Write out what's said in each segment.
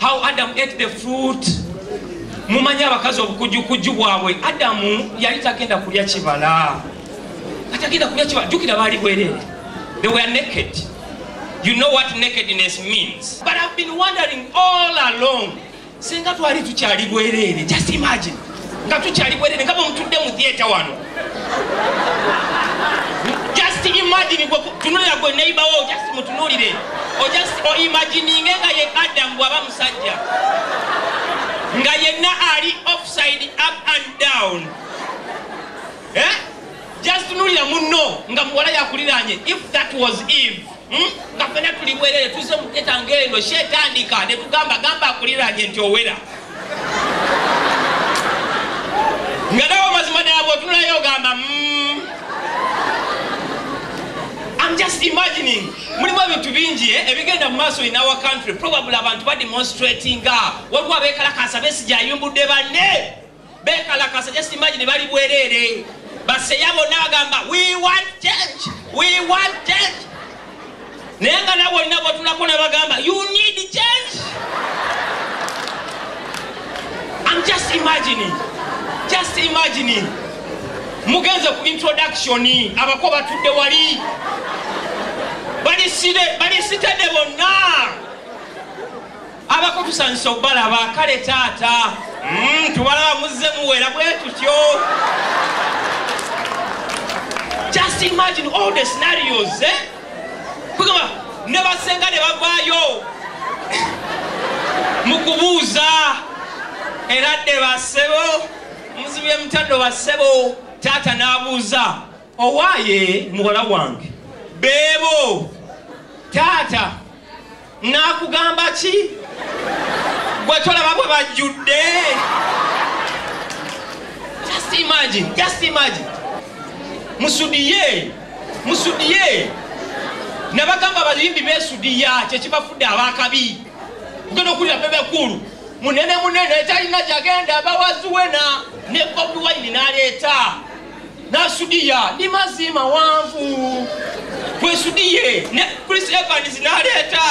how adam ate the fruit mumanyi abakazi obukujukujju bwabwe adamu yali tagenda kulya kibala atagenda kulya kibala jukira baali bwerere they were naked you know what nakedness means but i've been wondering all along singa twali tukyali bwerere just imagine nga tukyali bwerere nga bwemutudde mu theatre wano just imagine gwe tunulira gwe neighbour wo just mutunulire o just o imagining nga ye adam bwaba musajja nga yenna ali offside up and down eh just tunulira munno nga muwala yakuliranye if that was eve Hmm? nga fena tuli bwerere tuze muketa ngaeno kyetandika netugamba gamba akuliranye nti owera nga nawe mazima naabo otunulayo ogamba hmm. am just imagining mulimu ebintu bingi eh, ebigenda mu maaso in our country probably abantu bademonstratinga waliwo abekalakasa besijayimbudde banne bekalakasa just imagine bali bwerere baseya bonna bagamba we want change we want change naye nga nawe olina bwotulako nabagamba you need change I'm just imagining just imagining mugenze ku introduction abako batudde wali balisitede bonna abako tusanyusa okubalaba kale taata mm, tubalaba muzze muwera bwe tutyo just imagine all the scenarios eh? kugamba ne basenga ne bavaayo mu kubuuza era dde basebo muzibye mutaddo basebo taata n'abuuza owaye muwala wange beebo taata nakugamba ki gwe tolaba bwe bajjudde just imagine just imagine musudiye musudiye nabagamba abayimbi besudiya kyekibafudde abakabi ogenda okulira bebekulu munene munene talina jagenda bawaziwena ne bobi wine naleeta nasudiya ndi mazzi mawanvu bwesudiye ne chris evans naleeta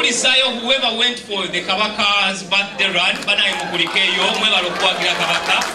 okulisayo whoever went for the kabaka's birthday run banaye mukulikeyo mwebala okuwagira kabaka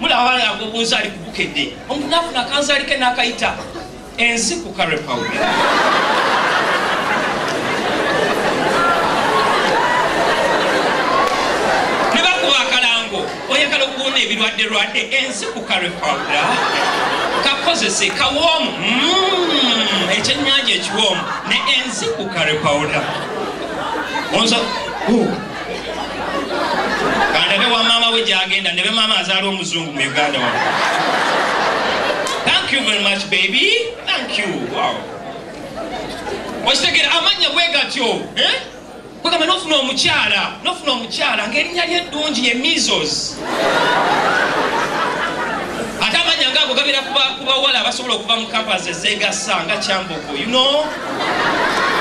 mulaba abaana yago obunzaali kubukedde omuntu nafuna akanzaali ke nakayita enzi ku karepaw nebakuba akalango oyagala okuwona ebirwadde lwadde enzi ku karepaw kakozese kawoomu mm, ekyenyanja ekiwoomu ne enzi ku karepaw onza kandabe wa maama we gyagenda ndebe maama azaala omuzungu mu uganda wa thank you very much baby thank you wow okitegera amannya bwe gatyo eh? kwegamba nofuna omukyala nofuna omukyala ngaerinnya lye eddungi ye measles ate amannya ngaago gabeera ku bawala abasobola okuva mu kampasi ezeegasa nga kyambogo you know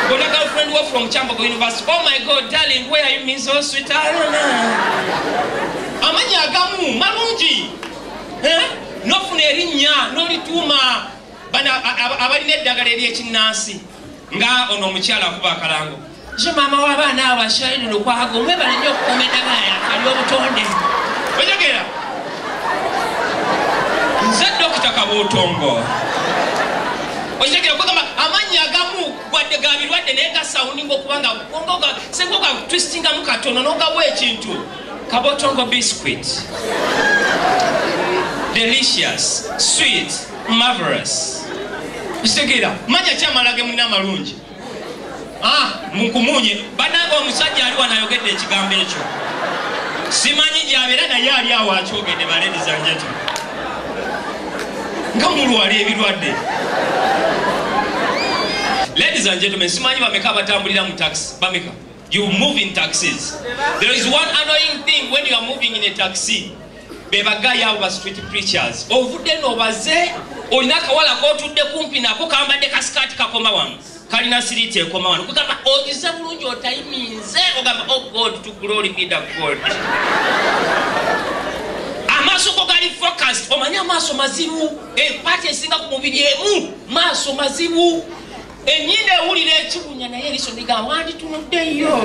Gonna girlfriend work from Chambogo University. Oh my God, darling, where are you, Miss Oh, sweet? I don't know. Amanyi agamu, malungi. Eh? Nofuna erinnya, nolituuma. Bana abalina eddagala ery'ekinnansi. Nga ono omukyala akuba akalango. Nze maama w'abaana abo Ashirine Lukwago mwebale nnyo okukuuma endagaano akali obutonde. Onyogera. Nze Dokita Kabuutongo. Onyogera kugamba amannya agamu gwadde ga birwadde naye gasawuninga okubanga gonga oga senga oga twistingamu katono n'ogawa ekintu. Kabuutongo biscuit. Delicious. Sweet. Marvelous. Kitegeera. Manya ki amala ge munna amalungi. ah, munkumunye banange omusajja ali wanayogedde ekigambo ekyo simanyi gyabeera naye ali awo akyogedde baledizanjati nga mulwala ebirwadde ladies and gentlemen simanyi bameka abatambulira mu taxi bameka you move in taxis there is one annoying thing when you are moving in a taxi bebagayo abo ba street preachers ovudde no baze olina akawala kotudde kumpi nako kambadde kasikaati kakoma wano kalina siriiti ekoma wano kugamba ogize bulungi otayiminze ogamba o oh god to glory be the god amaaso go gali focused omanye amaaso mazibu empaati eh, esinga ku mubiri emu maaso mazibu Enyindo ewulira ekibunya naye eriso ndiga wanditunudde yo.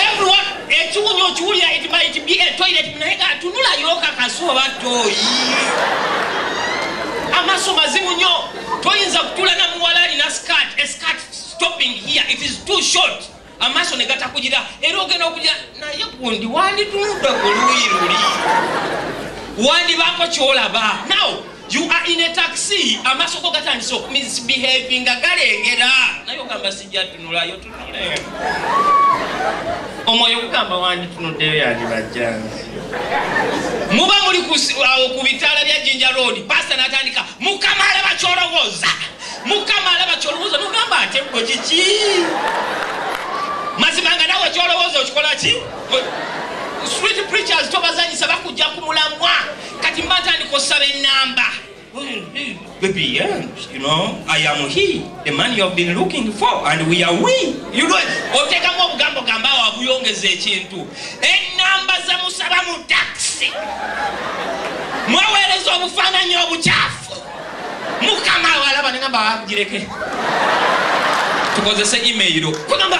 Everyone ekibunya okiwulira it might be a toilet naye ga tunula yo kakasi oba toyi. Amaso mazimu nyo toyinza kutula na muwala alina skirt a skirt stopping here it is too short. amaaso ne gatakugira era ogenda okugira naye gundi wanditunudde ku luuyi luli wandibaako kyolaba now you are in a taxi amaaso go gatandise okumisbehavi nga galengera naye ogamba sijja tunulayo tunule omwoyo gugamba wanditunuddeyo yandibajjanzi muba muli awo ku bitaala bya jinja road pasta natandika mukama alaba kyolowooza mukama alaba kyolowooza nogamba ate gwe kiki mazima nga nawe kyolowooza okikola ki street preachers tobazanyisa bakujja ku mulamwa kati mba ntandika osaba enamba Baby, yeah, you know, I am he, the man you have been looking for, and we are we. You know, otekamu obugambo gamba wabuyongeza ekintu. Enamba za musaba mu taxi. Mwawereza obufananyi obuchafu. mukama walaba nengamba wagireke tukozese email kugamba